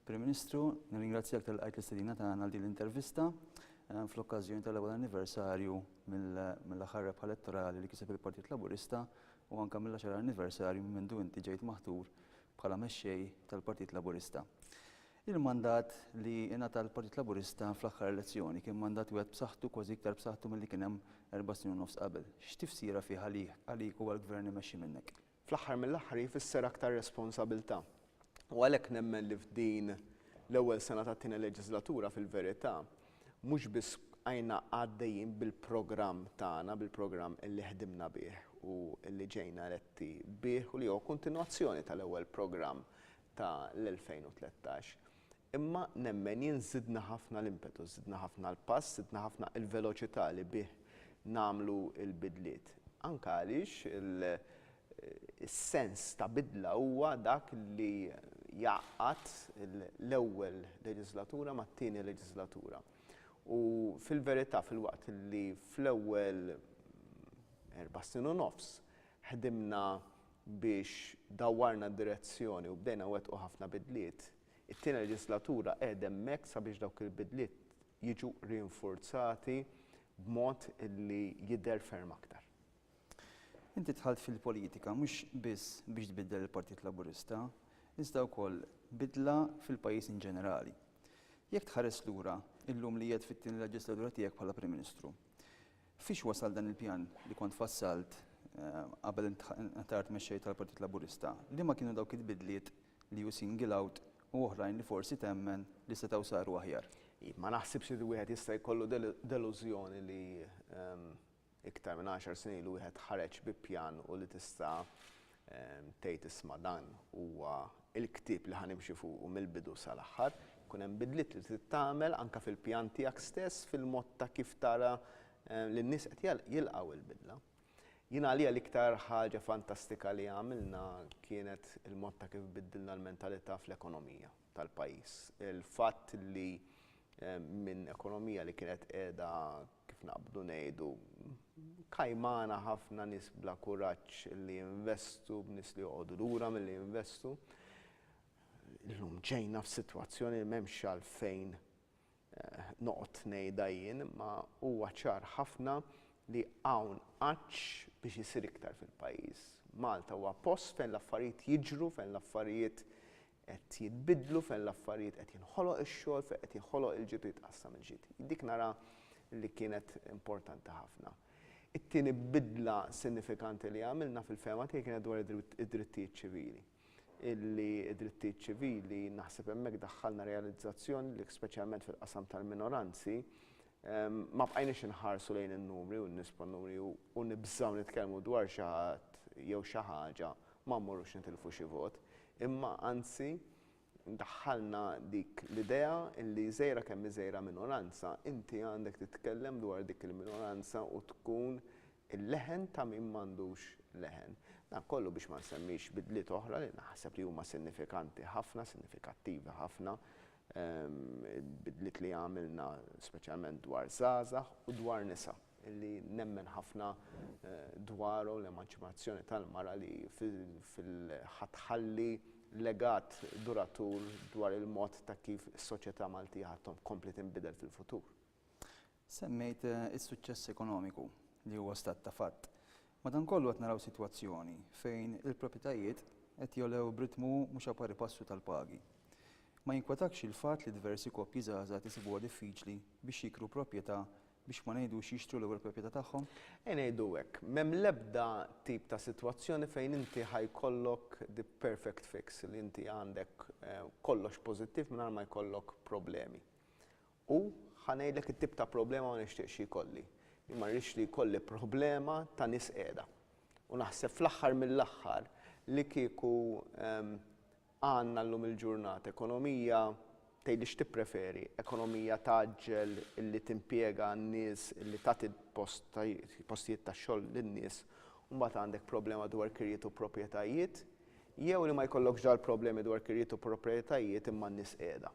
Prim Ministru, nirringrazzjak tal qajt l-istedina tagħna għal din l-intervista eh, fl-okkażjoni tal-ewwel anniversarju mill-aħħar rebħa elettorali li kiseb il-Partit Laburista u anke mill-10 anniversarju minn mindu inti ġejt maħtur bħala mexxej tal-Partit Laburista. Il-mandat li ingħata l-Partit Laburista fl-aħħar elezzjoni kien mandat wieħed b'saħħtu kważi iktar b'saħħtu milli kien hemm erba' snin u nofs qabel. X'tifsira fih għalik u għall-gvern imexxi minnek? fl-aħħar mill-aħħar jfisser aktar responsabilità u għalhekk nemmen li f'din l-ewwel sena tat-tieni leġiżlatura fil-verità mhux biss bqajna għaddejjin bil-programm tagħna, bil-programm li ħdimna bih u li ġejna eletti bih u li huwa kontinwazzjoni tal-ewwel programm tal-2013, Imma nemmen jien żidna ħafna l-impetus, żidna ħafna l-pass, żidna ħafna il-veloċità li bih nagħmlu l-bidliet. Anke għaliex is-sens ta' bidla huwa dak li jgħaqqad l-ewwel leġiżlatura mat-tieni leġiżlatura. U fil-verità filwaqt li fl-ewwel erba' snin u nofs ħdimna biex dawwarna d-direzzjoni u bdejna nwettqu ħafna bidliet, It-tieni leġislatura qiegħda hemmhekk sabiex dawk il-bidliet jiġu rinfurzati b'mod li jidher ferm aktar. Inti dħalt fil-politika mhux biss biex tbiddel il-Partit Laburista, iżda wkoll bidla fil-pajjiż in ġenerali. Jekk tħares lura, illum li qiegħed fit-tieni leġislatura tiegħek bħala Prim Ministru, fiex wasal dan il-pjan li kont fassalt qabel int ħtart mexxej tal-Partit Laburista? Liema kienu dawk il-bidliet li hu single out u oħrajn li forsi temmen li setgħu saru aħjar. Iv, ma naħsibx li wieħed jista' jkollu delużjoni li iktar minn għaxar snin ilu wieħed ħareġ bi pjan u li tista' tgħid isma' dan huwa l-ktieb li ħa nimxi fuqu mill-bidu sal-aħħar. Jkun hemm bidliet li trid tagħmel anke fil-pjan tiegħek stess, fil-mod ta' kif tara li n-nies qed jilqgħu l-bidla. Jien għalija l-iktar ħaġa fantastika li għamilna kienet il-mod ta' kif biddilna l-mentalità fl-ekonomija tal-pajjiż. Il-fatt li minn ekonomija li kienet qiegħda kif naqbdu ngħidu kajmana ħafna nies bla kuraġġ li jinvestu b'nies li joqogħdu lura milli jinvestu, illum ġejna f'sitwazzjoni li m'hemmx għalfejn Noqgħod ngħidha jien imma huwa ċar ħafna li hawn għatx biex isir iktar fil-pajjiż. Malta huwa post fejn l-affarijiet jiġru, fejn l-affarijiet qed jitbiddlu, fejn l-affarijiet qed jinħoloq ix-xogħol, fejn qed jinħoloq il-ġid u jitqassam il-ġid. Dik nara li kienet importanti ħafna. It-tieni bidla sinifikanti li għamilna fil-fehma tiegħi kienet dwar id-drittijiet ċivili. illi d-drittijiet ċivili, naħseb hemmhekk daħħalna realizzazzjoni li speċjalment fil-qasam tal-minoranzi, ma bqajniex inħarsu lejn in-numri u n-nies bħal numri u nibżgħu nitkellmu dwar xi ħadd jew xi ħaġa, ma mmorrux nitilfu xi vot, imma anzi daħħalna dik l-idea li żgħira kemm hi żgħira minoranza, inti għandek titkellem dwar dik il-minoranza u tkun il-leħen ta' min m'għandux leħen. Dan kollu biex ma nsemmix bidliet oħra li naħseb li huma sinifikanti ħafna, sinifikattivi ħafna, bidliet li għamilna speċjalment dwar żgħażagħ u dwar nisa. li nemmen ħafna dwaru l-emanċipazzjoni tal-mara li ħa tħalli legat duratur dwar il-mod ta' kif is-soċjetà Maltija ħa tkompli tinbidel fil-futur. Semmejt is-suċċess ekonomiku, li huwa stat ta' fatt. Madankollu qed naraw sitwazzjoni fejn il-propjetajiet qed jogħlew b'ritmu mhux a pari passu tal-pagi. Ma jinkwetakx il-fatt li diversi koppji żgħażagħ qed isibuha diffiċli biex jikru propjetà biex ma ngħidux jixtru l-ewwel proprjetà tagħhom? Ejja ngħidu hekk, m'hemm l-ebda tip ta' sitwazzjoni fejn inti ħa jkollok the perfect fix, li inti għandek kollox pożittiv mingħajr ma jkollok problemi. U ħa ngħidlek it-tip ta' problema ma nixtieqx jkolli. Jien ma rridx li jkolli problema ta' nies qiegħda. U naħseb fl-aħħar mill-aħħar li kieku Għandna llum il-ġurnata ekonomija, tgħidli x'tippreferi, ekonomija tgħaġġel illi timpjega n-nies illi tagħti postijiet tax-xogħol lin-nies u mbagħad għandek problema dwar kirjiet u proprjetajiet jew li ma jkollokx dal-problemi dwar kirjiet u proprjetajiet imma n-nies qiegħda.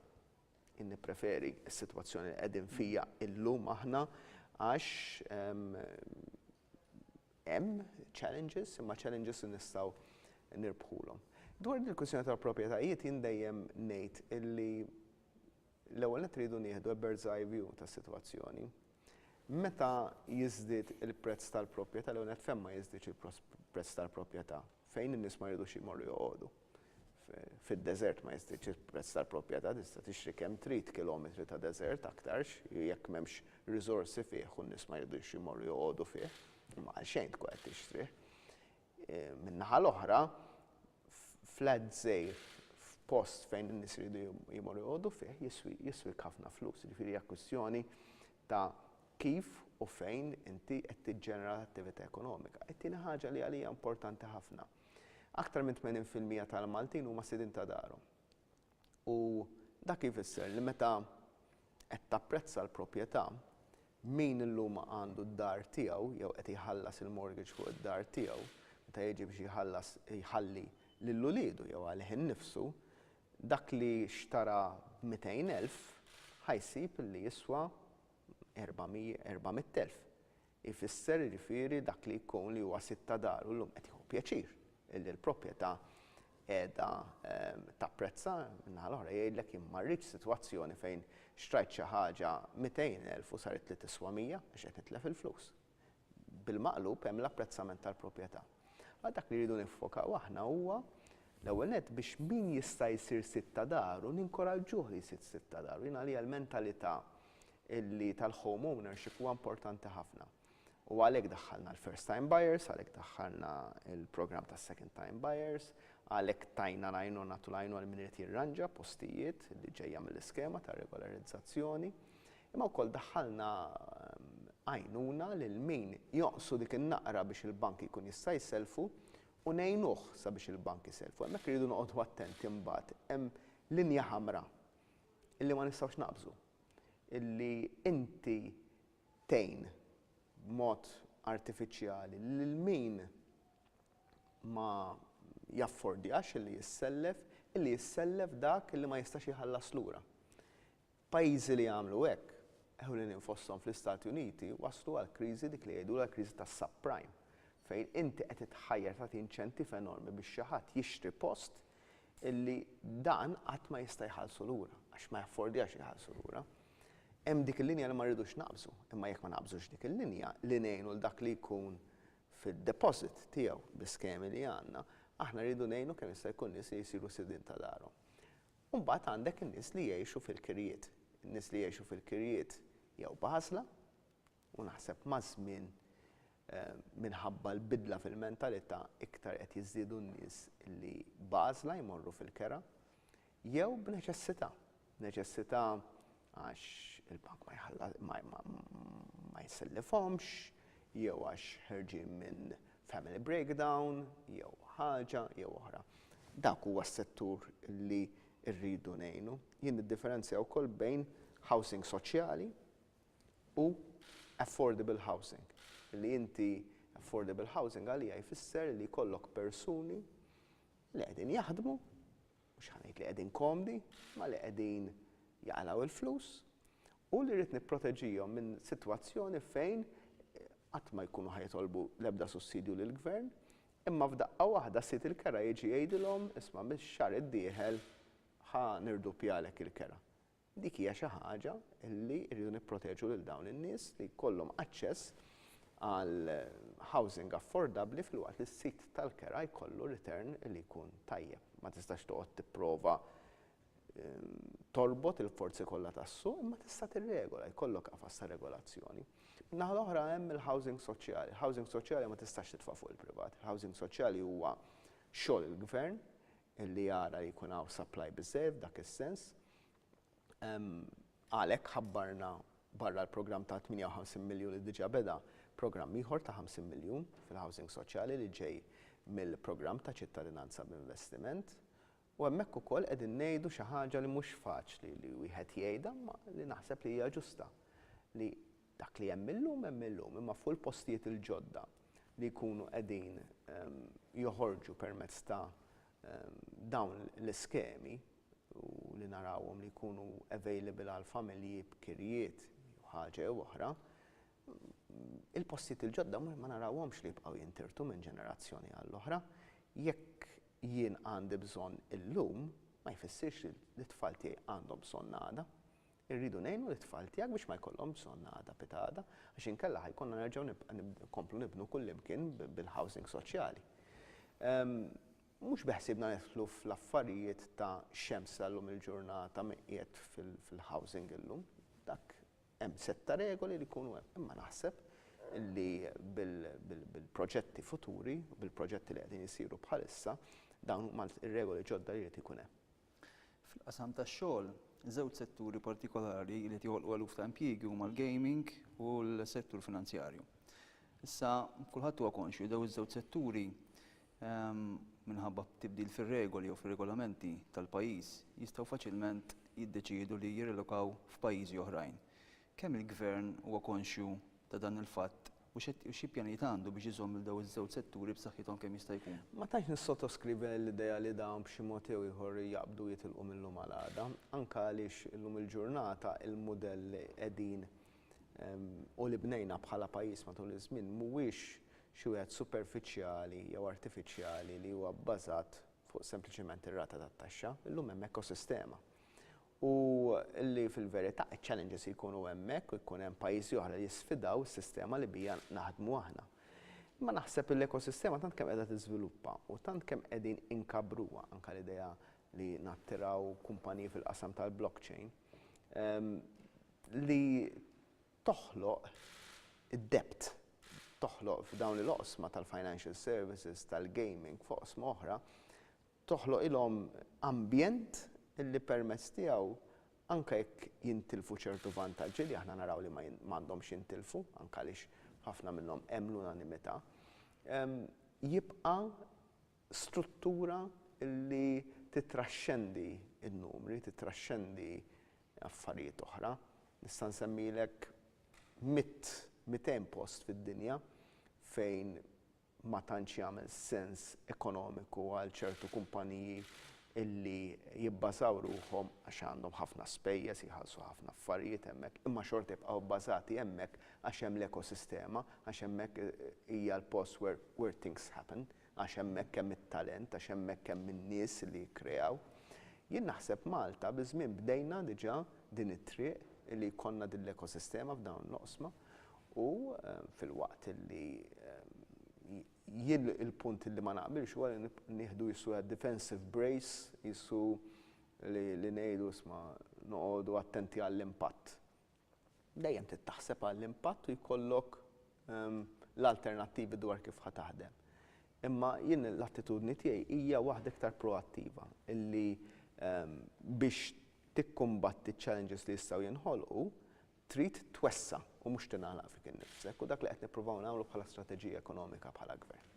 Jien nippreferi s-sitwazzjoni li qegħdin fiha llum aħna għax hemm challenges, imma challenges li nistgħu nirbħulhom. Dwar din il-kwistjoni tal-proprjetajiet jien dejjem ngħid illi l-ewwel nett rridu nieħdu a bird's eye view tas-sitwazzjoni. Meta jiżdied il-prezz tal-proprjetà l-ewwel nett fejn ma jiżdiedx il-prezz tal-proprjetà fejn in-nies ma jridux jmorru joqogħdu. Fid-deżert ma jiżdiedx il-prezz tal-proprjetà, tista' tixtri kemm trid kilometri ta' deżert aktarx jekk m'hemmx riżorsi fih u n-nies ma jridux imorru joqogħdu fih, imma għalxejn tkun qed tixtrih. Min-naħa l-oħra, flat żgħir f'post fejn in-nies iridu jmorru joqogħdu fih jiswik ħafna flus, jiġifieri hija kwistjoni ta' kif u fejn inti qed tiġġenera l-attività ekonomika. It-tieni ħaġa li għalija importanti ħafna, Aktar minn 80 fil-mija tal-Maltin huma sidien ta' darhom. U dak ifisser li meta qed tapprezza l-proprjetà, min illum għandu d-dar tiegħu jew qed jħallas il-mortgage fuq id-dar tiegħu, meta jiġi biex jħallas jħalli lil uliedu jew għalih innifsu, dak li xtara b'mitejn elf ħa jsib li jiswa erba' mitt elf. Ifisser, jiġifieri, dak li jkun li huwa sid ta' dar u llum qed jieħu pjaċir illi l-proprjetà qiegħda tapprezza, min-naħa l-oħra jgħidlek jien ma rridx sitwazzjoni fejn xtrajt xi ħaġa 200,000 u saritli tiswa 100 għax qed nitlef il-flus. Bil-maqlub hemm l-apprezzament tal-proprjetà. Allura dak li rridu niffokaw aħna huwa l-ewwel nett biex min jista' jsir sid ta' daru ninkoraġġuh li jsir sid ta' daru. Jien għalija l-mentalità illi tal-home ownership huwa importanti ħafna. U għalhekk daħħalna l-first time buyers, għalhekk daħħalna l-programm ta' second time buyers, għalhekk tajna lajnu nagħtu lajnu għal min irid jirranġa postijiet li ġejja mill-iskema ta' regolarizzazzjoni. Imma wkoll daħħalna ehm, għajnuna lil min joqsu dik in-naqra biex il-bank jkun jista' jselfu u nejnuh sabiex il-bank jiselfu. Hemmhekk iridu noqogħdu attenti mbagħad hemm linja ħamra illi ma nistgħux naqbżu, illi inti tgħin b'mod artifiċjali lil min ma jaffordjax illi jissellef, illi jissellef dak illi ma jistax iħallas lura. Pajjiżi li għamlu hekk, ewlenin fosthom fl-Istati Uniti, waslu għal kriżi dik li jgħidulha l-kriżi tas-subprime, fejn inti qed ittħajjar tagħti inċentiv enormi biex xi ħadd jixtri post illi dan qatt ma jista' jħallsu lura, għax ma jaffordjax iħallsu lura. Hemm dik il-linja li ma rridux naqbżu, imma jekk ma naqbżux dik il-linja li ngħinu 'l dak li jkun fid-deposit tiegħu bl-iskemi li għandna, aħna rridu ngħinu kemm jista' jkun nies li jsiru sidien ta' darhom. U mbagħad għandek in-nies li jgħixu fil-kirjiet. In-nies li jgħixu fil-kirjiet jew b'għażla, u naħseb maż-żmien minħabba l-bidla fil-mentalità iktar qed jiżdiedu n-nies li b'għażla jmorru fil-kera jew b'neċessità. Neċessità għax il-bank ma jħalla ma ma jsellifhomx, jew għax ħerġin minn family breakdown, jew ħaġa jew oħra. Dak huwa s-settur li rridu ngħinu. Jien niddifferenzja wkoll bejn housing soċjali u affordable housing. Li inti affordable housing għalija jfisser li jkollok persuni li qegħdin jaħdmu, mhux ħa ngħid li qegħdin komdi, imma li qegħdin jaqlgħu l-flus u li rrid nipproteġihom minn sitwazzjoni fejn qatt ma jkunu ħa jitolbu l-ebda sussidju lill-gvern, imma f'daqqa waħda sid il-kera jiġi jgħidilhom isma' mix-xahar id-dieħel ħa nirduppjalek il-kera. Dik hija xi ħaġa li rridu nipproteġu lil dawn in-nies li jkollhom aċċess għal housing affordabbli filwaqt li s-sit tal-kera jkollu return li jkun tajjeb. Ma tistax toqgħod tipprova ehm, torbot il-forzi kollha tas-suq imma tista' tirregola, jkollok qafas ta' regolazzjoni. Naħa l-oħra hemm il-housing soċjali. Il-housing soċjali ma tistax titfa' fuq il-privat. Il-housing soċjali huwa xogħol il-gvern li jara li jkun hawn supply biżżejjed f'dak is-sens. Għalhekk ħabbarna barra l-programm ta' 58 miljun li diġà beda, programm ieħor ta' 50 miljun fil-housing soċjali li ġej mill-programm ta' Ċittadinanza b'Investiment. U hemmhekk ukoll qegħdin ngħidu xi ħaġa li mhux faċli li wieħed jgħidha imma li naħseb li hija ġusta, li Dak li hemm illum hemm illum, imma fuq il-postijiet il-ġodda li jkunu qegħdin joħorġu permezz ta' dawn l-iskemi u li narawhom li jkunu available għall-familji b'kirjiet jew ħaġa jew oħra, il-postijiet il-ġodda ma narawhomx li jibqgħu jintirtu minn ġenerazzjoni għall-oħra. Jekk jien għandi bżonn illum, ma jfissirx li t-tfal tiegħi għandhom bżonn għada. Irridu ngħinu lit-tfal tiegħek biex ma jkollhom bżonn għada pitgħada, għax inkella ħa jkollna nerġgħu nkomplu nibnu kullimkien bil-housing soċjali. Mhux beħsiebna nidħlu fl-affarijiet ta' x'hemm sa llum il-ġurnata min qiegħed fil-housing illum. Dak hemm sett ta' regoli li jkunu hemm. Imma naħseb li bil-proġetti futuri, bil-proġetti li qegħdin isiru bħalissa, dawn huma r-regoli ġodda li jrid ikun hemm. Fil-qasam tax-xogħol, żewġ setturi partikolari li qed joħolqu eluf ta' impjiegi huma l-gaming u l-settur finanzjarju. Issa, kulħadd huwa konxju li dawn iż-żewġ setturi, minħabba tibdil fir-regoli jew fir-regolamenti tal-pajjiż, jistgħu faċilment jiddeċiedu li jirrilokaw f'pajjiżi oħrajn, Kemm il-Gvern huwa konxju ta' dan il-fatt u xi pjanijiet għandu biex iżomm lil dawn iż-żewġ setturi b'saħħithom kemm jista' jkun? Ma tantx nissottoskrivi l-idea li dawn b'xi mod jew ieħor jaqbdu jitilqu mil-lum għal għada, anke għaliex illum il-ġurnata l-mudell li qegħdin u li bnejna bħala pajjiż matul iż-żmien mhuwiex xi wieħed superfiċjali jew artifiċjali li huwa bbażat fuq sempliċement ir-rata tat-taxxa. Illum hemm ekosistema u li fil-verità iċ-challenges jkunu hemmhekk u jkun hemm pajjiżi oħra li jisfidaw is-sistema li bija naħdmu aħna. Imma naħseb li l-ekosistema tant kemm qiegħda tiżviluppa u tant kemm qegħdin inkabbruha, anke l-idea li nattiraw kumpaniji fil-qasam tal-blockchain, li toħloq id-depth, toħloq f'dawn l-oqsma tal-financial services, tal-gaming, f'oqsma oħra, toħloqilhom ambjent li permezz tiegħu anke jekk jintilfu ċertu vantaġġi li aħna naraw li ma għandhomx jintilfu, anke għaliex ħafna minnhom hemm l-unanimità, jibqa' struttura li tittraxxendi n-numri, tittraxxendi affarijiet oħra. Nista' nsemmilek mitt, mitejn post fid-dinja fejn ma tantx jagħmel sens ekonomiku għal ċertu kumpaniji illi jibbażaw ruħhom għax għandhom ħafna spejjeż, jħallsu ħafna affarijiet hemmhekk, imma xorta jibqgħu bbażati hemmhekk għax hemm l-ekosistema, għax hemmhekk hija l-post where where things happen, għax hemmhekk hemm it-talent, għax hemmhekk hemm in-nies li jikkreaw. Jien naħseb Malta biż-żmien bdejna diġà din it-triq illi jkollna din l-ekosistema f'dawn l-oqsma U filwaqt li jien il-punt li ma naqbilx huwa li nieħdu qisu a defensive brace, qisu li ngħidu isma' noqogħdu attenti għall-impatt. Dejjem trid taħseb għall-impatt u jkollok l-alternattivi dwar kif ħa taħdem. Imma jien l-attitudni tiegħi hija waħda iktar proattiva illi biex tikkumbatti ċ-challenges li jistgħu jinħolqu, trid twessa' u mhux tingħalaq fik innifsek u dak li qed nippruvaw nagħmlu bħala strateġija ekonomika bħala Gvern.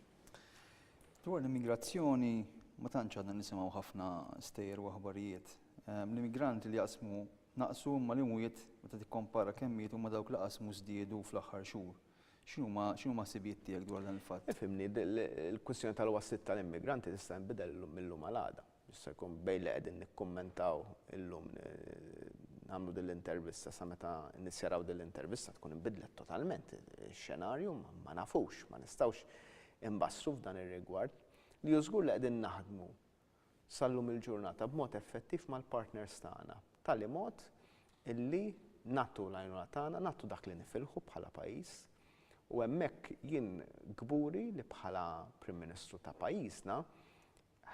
Dwar l-immigrazzjoni ma tantx għadna nisimgħu ħafna stejjer u aħbarijiet. L-immigranti li jaqsmu naqsu imma l-imwiet meta tikkompara kemm mietu ma' dawk li qasmu żdiedu fl-aħħar xhur. X'inhuma x'inhuma ħsibijiet tiegħek dwar dan il-fatt? Ifhimni, il-kwistjoni tal-waslit tal-immigranti tista' tinbidel mil-lum għal għada. Jista' jkun bejn li qegħdin nikkummentaw illum nagħmlu din l-intervista sa meta nissjaraw din l-intervista tkun inbidlet totalment ix-xenarju, ma nafux, ma nistgħux inbassru f'dan ir-rigward. Li hu żgur li qegħdin naħdmu sal-lum il-ġurnata b'mod effettiv mal-partners tagħna b'tali mod illi nagħtu l-għajnuna tagħna, nagħtu dak li nifilħu bħala pajjiż u hemmhekk jien kburi li bħala Prim Ministru ta' pajjiżna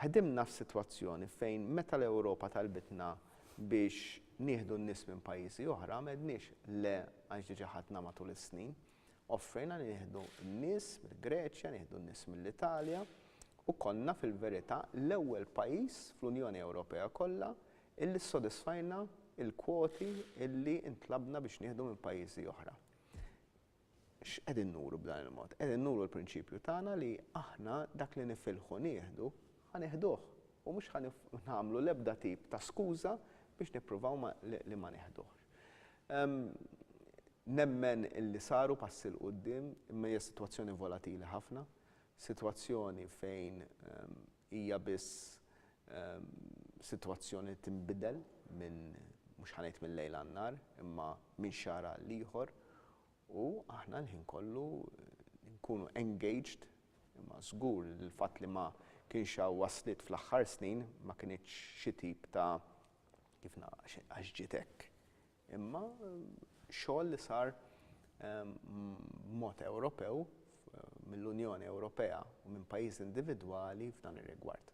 Ħdimna f'sitwazzjoni fejn meta l-Ewropa talbitna biex nieħdu n-nies minn pajjiżi oħra m'għedniex le għax diġà ħadna matul is-snin. Offrejna li nieħdu n-nies mill-Greċja, nieħdu n-nies mill-Italja u konna fil-verità l-ewwel pajjiż fl-Unjoni Ewropea kollha illi ssodisfajna l-kwoti illi ntlabna biex nieħdu minn pajjiżi oħra. X'qegħdin nuru b'dan il-mod? Qegħdin nuru l-prinċipju tagħna li aħna dak li nifilħu nieħdu, ħa nieħduh u mhux ħa nagħmlu l-ebda tip ta' skuża biex nippruvaw ma li ma nieħduhx. Nemmen illi saru passi 'l quddiem imma hija sitwazzjoni volatili ħafna, sitwazzjoni fejn Hija biss sitwazzjoni li tinbidel minn, mhux ħa ngħid mil-lejl għan-nhar, imma minn xahar għal ieħor u aħna l-ħin kollu nkunu engaged imma żgur li l-fatt li ma kienx hawn wasliet fl-aħħar snin ma kinitx xi tip ta' kif ngħid għax ġiet hekk. imma xogħol li sar b'mod Ewropew mill-Unjoni Ewropea u minn pajjiżi individwali f'dan ir-rigward.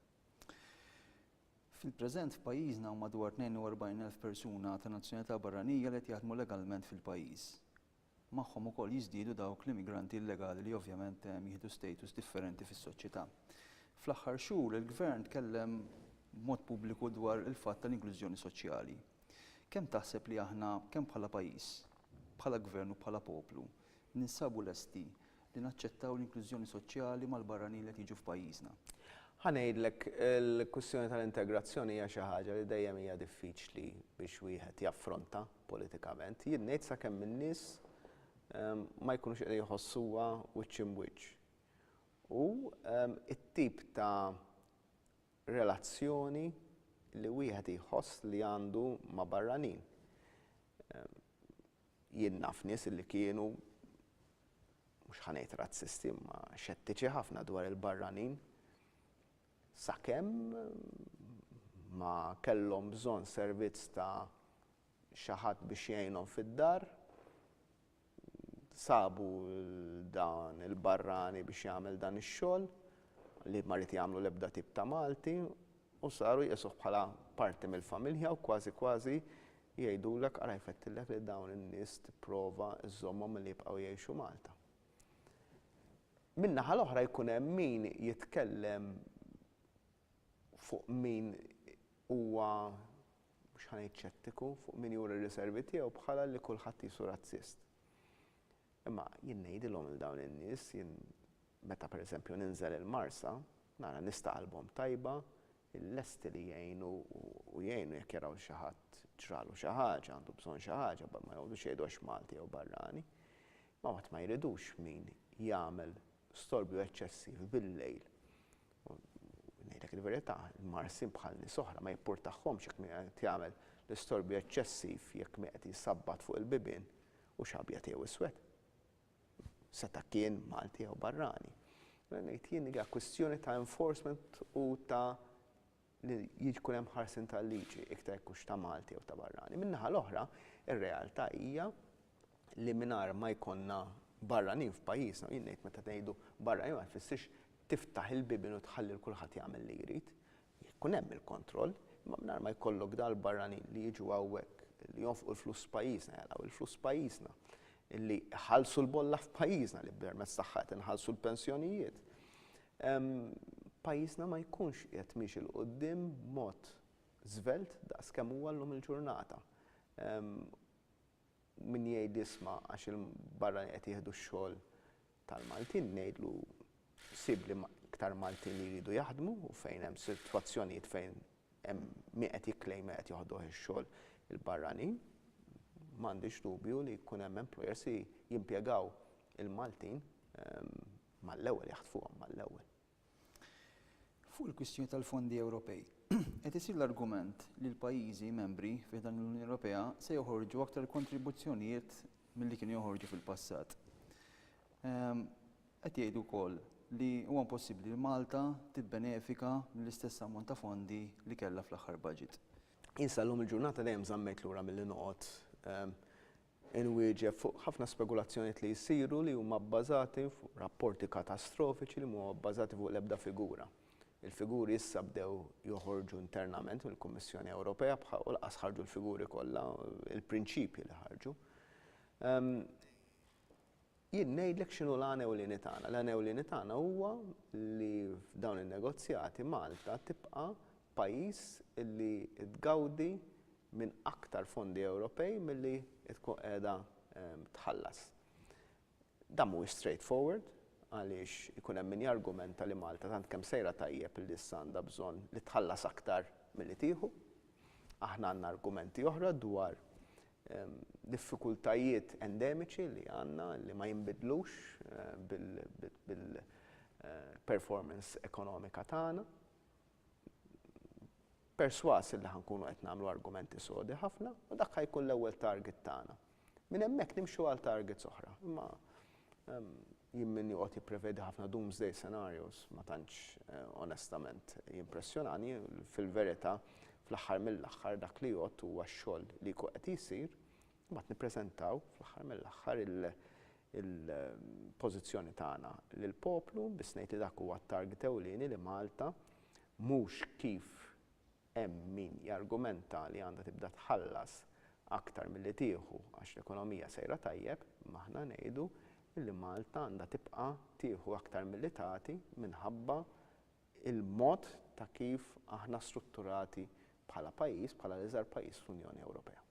Fil-preżent f'pajjiżna hawn madwar 42,000 persuna ta' nazzjonalità barranija li qed jaħdmu legalment fil-pajjiż. Magħhom ukoll jiżdiedu dawk l-immigranti illegali li ovvjament jieħdu status differenti fis-soċjetà. Fl-aħħar xhur, il-Gvern tkellem b'mod pubbliku dwar il-fatt tal-inklużjoni soċjali. Kemm taħseb li aħna, kemm bħala pajjiż, bħala Gvern u bħala poplu, ninsabu lesti li naċċettaw l-inklużjoni soċjali mal-barranin li qed jiġu f'pajjiżna? Ħa ngħidlek, il-kwistjoni tal-integrazzjoni hija xi ħaġa li dejjem hija diffiċli biex wieħed jaffronta. politikament. Jien ngħid sakemm in-nies ma jkunux qegħdin jħossuha wiċċ imb'wiċċ. U t-tip ta' relazzjoni li wieħed jħoss li għandu ma' barranin. Jien naf nies li kienu, mhux ħa ngħid razzisti, imma xettiċi ħafna dwar il-barranin. sakemm ma kellhom bżonn servizz ta' xi ħadd biex jgħinhom fid-dar, sabu lil dan il-barrani biex jagħmel dan ix-xogħol li ma ried jagħmlu l-ebda tip ta' Malti u saru jqisuh bħala parti mill-familja u kważi kważi jgħidulek ara jfettillek li dawn in-nies tipprova żżommhom milli jibqgħu jgħixu Malta. Min-naħa l-oħra jkun hemm min jitkellem fuq min huwa, mhux ħa ngħid xettiku, fuq min juri r-riservi tiegħu bħala li kulħadd qisu razzist. Imma jien ngħidilhom lil dawn in-nies, jien meta pereżempju ninżel il-Marsa, nara nies ta' qalbhom tajba, lesti li jgħinu u jgħinu jekk jaraw xi ħadd ġralu xi ħaġa, għandu bżonn xi ħaġa, ma jqogħdux jgħidu għax Malti jew barrani. Ma mbagħad ma jridux min jagħmel storbju eċċessiv bil-lejl. U ngħidlek il-verità, il-Marsin bħal nies oħra ma jippurtahomx jekk min qed jagħmel l-istorbju eċċessiv jekk min qed jsabbat fuq il-bibien hux abjad jew iswed. Seta' kien Malti jew barrani. Mela ngħid jien li hija kwistjoni ta' enforcement u ta' li jkun hemm ħarsien tal-liġi iktar jekk hux ta' Malti jew ta' barrani. Min-naħa l-oħra, ir-realtà hija li mingħajr ma jkollna barranin f'pajjiżna, u jien ngħid meta ngħidu barranin ma tfissirx tiftaħ il-bibien u tħalli 'l kulħadd jagħmel li jrid. Jekk ikun hemm il-kontroll, imma mingħajr ma jkollok dawn il-barranin li jiġu hawnhekk, li jonfqu l-flus f'pajjiżna, jagħlqu l-flus f'pajjiżna, li jħallsu l-bolla f'pajjiżna li permezz tagħha qed inħallsu l-pensjonijiet, pajjiżna ma jkunx qiegħed miexi 'l quddiem b'mod żvelt daqs kemm huwa llum il-ġurnata. Min jgħid isma' għax il-barranin qed jieħdu x-xogħol tal-Maltin, ngħidlu sibli iktar Maltin li jridu jaħdmu u fejn hemm sitwazzjonijiet fejn hemm min qed jikklejma qed joħduh ix-xogħol il-barranin. M'għandix dubju li jkun hemm employers li jimpjegaw il-Maltin mal-ewwel, jaħtfuhom mal-ewwel. Fuq il-kwistjoni tal-fondi Ewropej, qed isir l-argument li l-pajjiżi membri fi ħdan l-Unjoni Ewropea se joħorġu aktar kontribuzzjonijiet milli kienu joħorġu fil-passat. Ehm, qed jgħidu wkoll li huwa impossibbli li Malta tibbenefika mill-istess ammont ta' fondi li kellha fl-aħħar budget. Insallum il-ġurnata dejjem żammet lura milli noqgħod ehm, inwieġeb fuq ħafna spekulazzjonijiet li jsiru li huma bbażati fuq rapporti katastrofiċi li mhuma bbażati fuq l-ebda figura. Il-figuri issa bdew joħorġu internament mill-Kummissjoni Ewropea bħal u lanqas ħarġu l-figuri kollha, il-prinċipji li ħarġu. Jien ngħidlek x'inhu l-għan ewlieni tagħna. L-għan ewlieni tagħna huwa li f'dawn in-negozjati Malta tibqa' pajjiż li tgawdi minn aktar fondi Ewropej milli tkun qiegħda tħallas. Dan mhuwiex straight forward għaliex ikun hemm min jargumenta li Malta tant kemm sejra tajjeb li issa għandha bżonn li tħallas aktar milli tieħu. Aħna għandna argumenti oħra dwar diffikultajiet endemiċi li għandna li ma jinbidlux bil-performance ekonomika tagħna. Persważ illi ħa nkunu qed nagħmlu argumenti sodi ħafna u dak ħa jkun l-ewwel target tagħna. Minn hemmhekk nimxu għal targets oħra, imma Jien min joqgħod jipprevedi ħafna doomsday scenarios ma tantx onestament jimpressjonani. Fil-verità, fl-aħħar mill-aħħar dak li jgħodd huwa x-xogħol li jkun qed isir, imbagħad nippreżentaw fl-aħħar mill-aħħar il-pożizzjoni tagħna lill-poplu, biss ngħid li dak huwa t-target ewlieni li Malta mhux kif Hemm min jargumenta li għandha tibda tħallas aktar milli tieħu għax l-ekonomija sejra tajjeb, imma aħna ngħidu li Malta għandha tibqa' tieħu aktar milli tagħti minħabba l-mod ta' kif aħna strutturati bħala pajjiż, bħala l-iżgħar pajjiż fl-Unjoni Ewropea.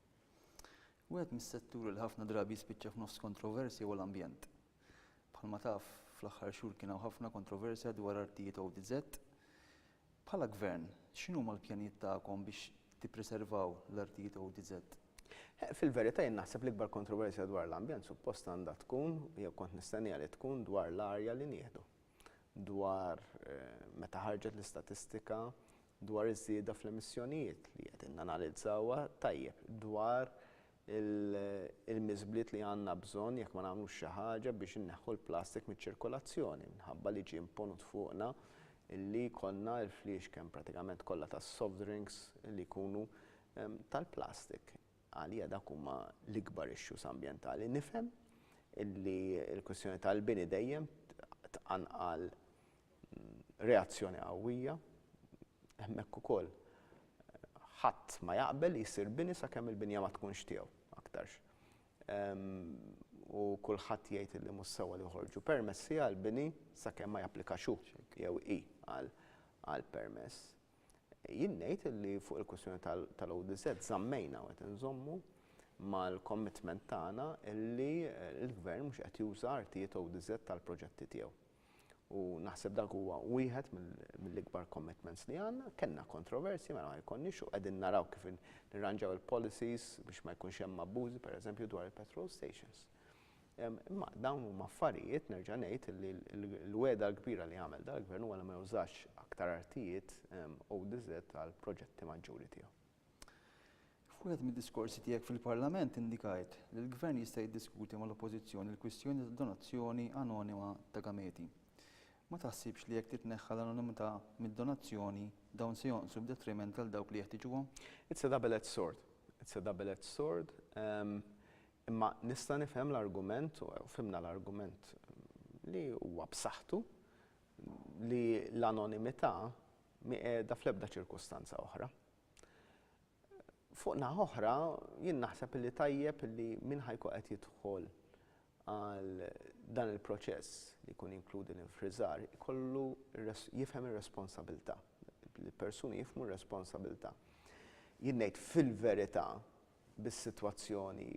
Wieħed mis-setturi li ħafna drabi jispiċċa f'nofs kontroversja huwa l-ambjent. Bħalma taf, fl-aħħar xhur kien hawn ħafna kontroversja dwar artijiet ODZ Bħala Gvern, x'inhuma l-pjanijiet tagħkom biex tippreservaw l-artijiet ODZ? Fil-verità jien naħseb l-ikbar kontroversja dwar l-ambjent suppost għandha tkun, jew kont nistenniha li tkun, dwar l-arja li nieħdu. Dwar, meta ħarġet l-istatistika dwar iż-żieda fl-emissjonijiet, li qegħdin nanalizzawha tajjeb, dwar il-miżbliet li għandna bżonn jekk ma nagħmlux xi ħaġa biex inneħħu l-plastik miċ-ċirkolazzjoni minħabba li ġie imponut fuqna li jkollna l-fliexken pratikament kollha tas-soft drinks li jkunu tal-plastik. Għalija dawk huma l-ikbar issues ambjentali. Nifhem li l-kwistjoni tal-bini dejjem tqanqal Reazzjoni qawwija. Hemmhekk ukoll ħadd ma jaqbel li jsir bini sakemm il-binja ma tkunx tiegħu aktarx. U kulħadd jgħid illi mhux sewwa li joħorġu permessi għall-bini sakemm ma japplikax hu jew hi għal permess. Jien ngħid illi fuq il-kwistjoni tal-ODZ żammejna u qed inżommu mal-commitment tagħna illi l-Gvern mhux qed juża artijiet ODZ għall-proġetti tiegħu. U naħseb dak huwa wieħed mill-ikbar commitments li għandna. Kellna kontroversji, mela ma jkollniex u qegħdin naraw kif nirranġaw il-policies biex ma jkunx hemm abbużi, pereżempju, dwar il-petrol stations. Imma dawn huma affarijiet, nerġa' ngħid, li l-wegħda l-kbira li għamel dal-Gvern huwa li ma jużax aktar artijiet ODZ għall-proġetti maġġuri tiegħu. F'wieħed mid-diskorsi tiegħek fil-Parlament indikajt li l-Gvern jista' jiddiskuti mal-Oppożizzjoni l-kwistjoni tad-donazzjoni anonima ta' gameti. Ma taħsibx li jekk titneħħa l-anonimità mid-donazzjoni, dawn se jonqsu b'detriment għal dawk li jeħtiġuhom? It's a double edged sword. It's a double edged sword. Imma nista' nifhem l-argument, u fhimna l-argument li huwa b'saħħtu, li l-anonimità mhi qiegħda fl-ebda ċirkustanza oħra. Fuq naħa oħra, jien naħseb li tajjeb li min ħajku qed jidħol għal dan il-proċess li jkun inkludi l-infriżar ikollu jifhem ir-responsabilità. Il-persuni jifmu r-responsabilità. Jien ngħid fil-verità bis-sitwazzjoni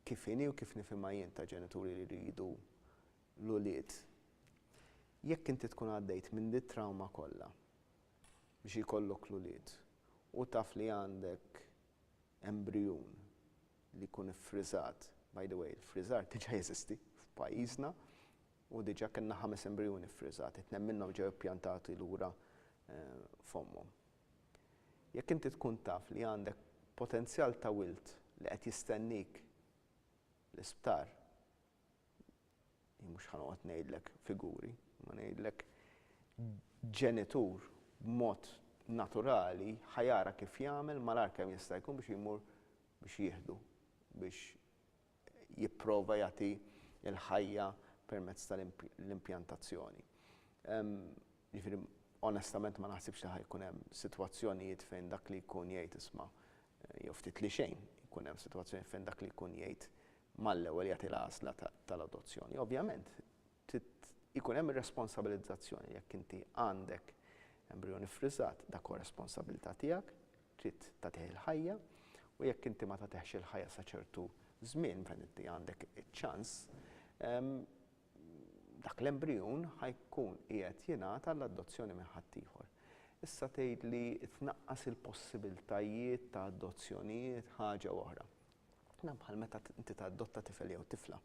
Kif inhi u kif nifhimha jien ta' ġenituri li jridu l-ulied, jekk inti tkun għaddejt minn dit-trawma kollha biex jkollok l-ulied u taf li għandek embrijun li jkun iffriżat, by the way il-friżar diġa' jeżisti f'pajjiżna u diġa' kellna ħames embrijuni ffriżati, tnejn minnhom ġew ippjantati lura f'ommhom. Jekk inti tkun taf li għandek potenzjal ta' wild li qed jistennik l-isptar, jien mhux ħa noqgħod ngħidlek figuri, imma ngħidlek ġenitur b'mod naturali ħa jara kif jagħmel malar kemm jista' jkun biex jmur biex jieħdu, biex jipprova jagħti l-ħajja permezz tal-impjantazzjoni. Jiġifieri onestament ma naħsibx li ħa jkun hemm sitwazzjonijiet fejn dak li jkun jgħid isma' jew ftit li xejn jkun hemm sitwazzjoni fejn dak li jkun jgħid mal-ewwel jagħti l-għażla tal-adozzjoni. Ovvjament, Trid ikun hemm ir-responsabilizzazzjoni. Jekk inti għandek embrijun iffriżat, dak huwa responsabbiltà tiegħek, trid tagħtih il-ħajja u jekk inti ma tagħtihx il-ħajja sa ċertu żmien fejn inti għandek iċ-ċans, dak l-embrijun ħa jkun qiegħed jingħata għall-adozzjoni minn ħaddieħor. Issa tgħid li tnaqqas il-possibbiltajiet ta' adozzjonijiet ħaġa oħra. Dan bħal meta inti tadotta tifel jew tifla.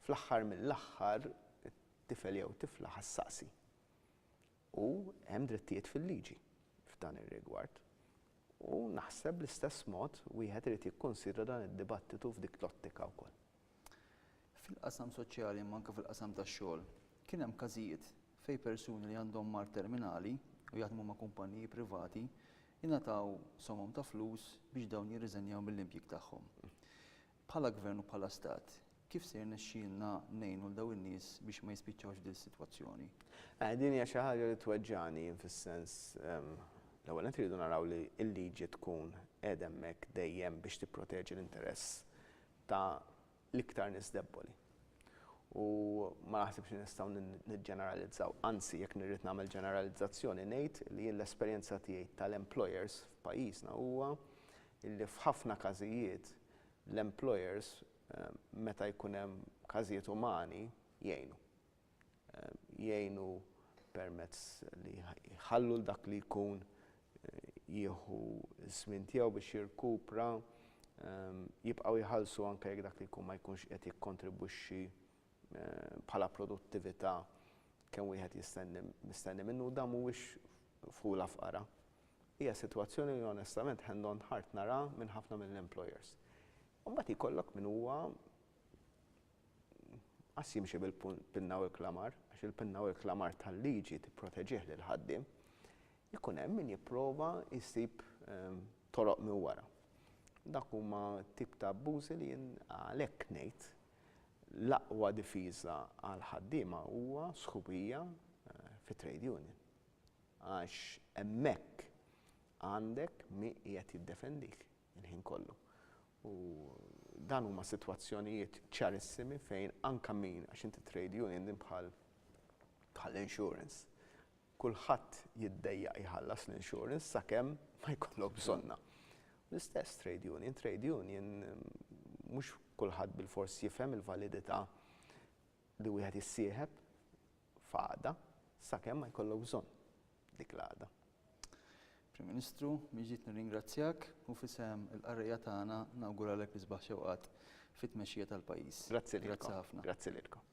Fl-aħħar mill-aħħar tifel jew tifla ħa ssaqsi. U hemm drittijiet fil-liġi f'dan ir-rigward. U naħseb bl-istess mod wieħed irid jikkunsidra dan id-dibattitu f'dik l-ottika wkoll. Fil-qasam soċjali imma anke fil-qasam tax-xogħol, kien hemm każijiet fejn persuni li għandhom mard terminali u jaħdmu ma' kumpanniji privati ingħataw somom ta' flus biex dawn jirriżenjaw mill-impjieg tagħhom. Bħala Gvern u bħala Stat, kif se jirnexxielna ngħinu 'l dawn in-nies biex ma jispiċċawx f'dil sitwazzjoni? Eh, din hija xi ħaġa li tweġġagħni jien fis-sens, ehm, l-ewwel nett irridu naraw li l-liġi tkun qiegħda hemmhekk dejjem biex tipproteġi l-interess ta' l-iktar nies debboli. U ma naħsibx li nistgħu niġġeneralizzaw, anzi jekk nirrid nagħmel ġeneralizzazzjoni ngħid li jien l-esperjenza tiegħi tal-employers f'pajjiżna huwa illi f'ħafna każijiet l-employers meta jkun hemm każijiet umani jgħinu. Jgħinu permezz li jħallu l dak li jkun jieħu żmien tiegħu biex jirkupra, jibqgħu jħallsu anke jekk dak li jkun ma jkunx qed jikkontribwixxi bħala produttività kemm wieħed jistenni mistenni minnu u dan mhuwiex f'ħula f'qara. Hija sitwazzjoni li onestament hand on heart nara minn ħafna mill-employers. Imbagħad jkollok min huwa qas jimxi bil-pinna u l-klamar, għax il-pinna u l-klamar tal-liġi tipproteġih lill-ħaddiem, ikun hemm min jipprova jsib toroq minn wara. Dak huma tip ta' abbużi li jien għalhekk ngħid l-aqwa difiża għall-ħaddiema huwa sħubija fit-trade union. Għax hemmhekk għandek min qiegħed jiddefendik il-ħin kollu. U dan huma sitwazzjonijiet ċarissimi fejn anke min, għax inti trade union din bħal insurance. Kulħadd jiddejjaq jħallas l-insurance sakemm ma jkollok bżonnha. L-istess trade union, trade union mhux kulħadd bilfors jifhem il-validità li wieħed jissieħeb f'għada sakemm ma jkollok bżonn dik l-għada. Prim Ministru, mhix ġid nirringrazzjak u f'isem il-qarrejja tagħna nawguralek l-isbaħ xewqat fit-tmexxija tal-pajjiż. Grazzi lilkom. Grazzi ħafna. Grazzi lilkom.